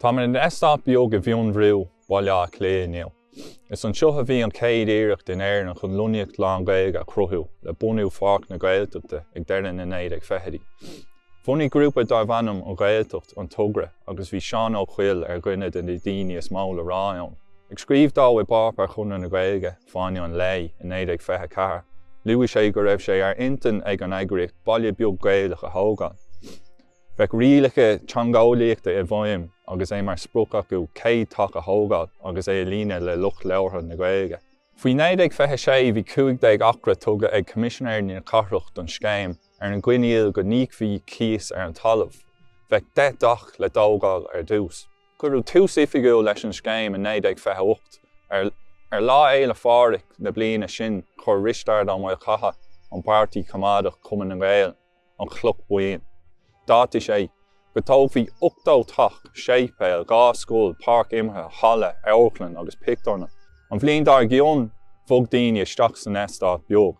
Tá mé in eastát beag i bhFionnbhrú, Baile Átha Cliath inniu. Is anseo a bhí an chéad iarracht in Éirinn chun lonnaíocht lán-Ghaeilge a chruthú le bunú Pháirc na Gaeltachta ag deireadh na 1920idí. Bhunaigh grúpa darbh ainm An Ghaeltacht an togra agus bhí Seán Ó Cuill ar dhuine de na daoine is mó le rá ann. Ag scríobh dó i bpáipéar Chonradh na Gaeilge, Fáinne an Lae i 1924, luaigh sé go raibh sé ar intinn ag an eagraíocht baile beag Gaelach a thógáil. Bheadh rialacha teangeolaíochta i bhfeidhm agus é mar sprioc acu 100 teach a thógáil agus é a líonadh le lucht labhartha na Gaeilge. Faoi 1926 bhí 15 acra tugtha ag Coimisinéirí na Cathrach don scéim ar an gcoinníoll go n-íocfaí cíos ar an talamh. Bheadh 10 dteach le dtógáil ar dtús. Cuireadh tús oifigiúil leis an scéim i 1928. Ar Lá Fhéile Phádraig na bliana sin chuir Risteard Ó Maolchatha ón bPáirtí Coimeádach, Cumann na nGaedheal, an chloch bhoinn. D'áitigh sé go dtógfaí 80 teach, séipéal, dhá scoil, páirc imeartha, halla, amharclann agus pictiúrlann. An bhliain dár gcionn bhog daoine isteach san eastát beag.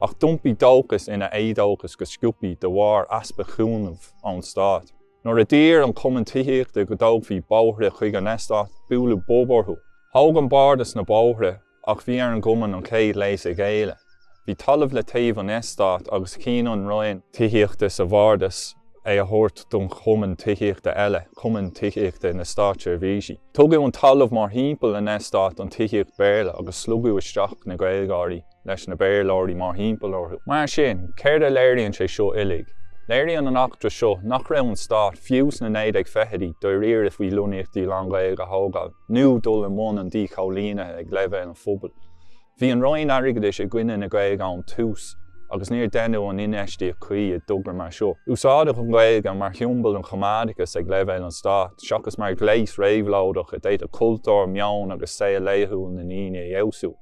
Ach d'iompaigh dóchas ina éadóchas go sciobthaí de bharr easpa chúnaimh ón stát. Nuair a d'iarr an cumann tithíochta go dtógfaí bóithre chuig an eastát, buaileadh bob orthu. Thóg an bardas na bóithre ach bhí ar an gcumann an chéad léas a ghéilleadh. Bhí talamh le taobh an eastáit agus chinn an roinn tithíochta sa bhardas é a thabhairt don chumann tithíochta eile, Cumann Tithíochta na Státseirbhísí. Tugadh an talamh mórthimpeall an eastáit don tithíocht Béarla agus slogadh isteach na Gaeilgeoirí. leis na Béarlóirí mórthimpeall orthu. Mar sin, céard a léiríonn sé seo uilig? Léiríonn an eachtra seo nach raibh an stát, fiú sna 1920idí, dáiríre faoi lonnaíochtaí lán-Ghaeilge a thógáil nó dul i mbun an díchoilínithe ag leibhéal an phobail. Bhí an Roinn Airgeadais i gcoinne na Gaeilge ón tús agus níor deineadh an infheistíocht chuí i dtogra mar seo. Úsáideadh an Ghaeilge mar shiombail an choimeádachais ag leibhéal an stáit, seachas mar ghléas réabhlóideach a d'fhéadfadh cultúr, meon agus saol laethúil na ndaoine a fheabhsú.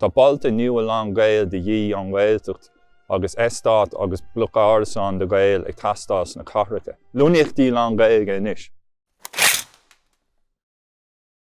Tá bailte nua lán-Ghaeilge de dhíth ón nGaeltacht agus eastáit agus bloic árasán do Ghaeil ag teastáil sna cathracha. Lonnaíochtaí lán-Ghaeilge anois!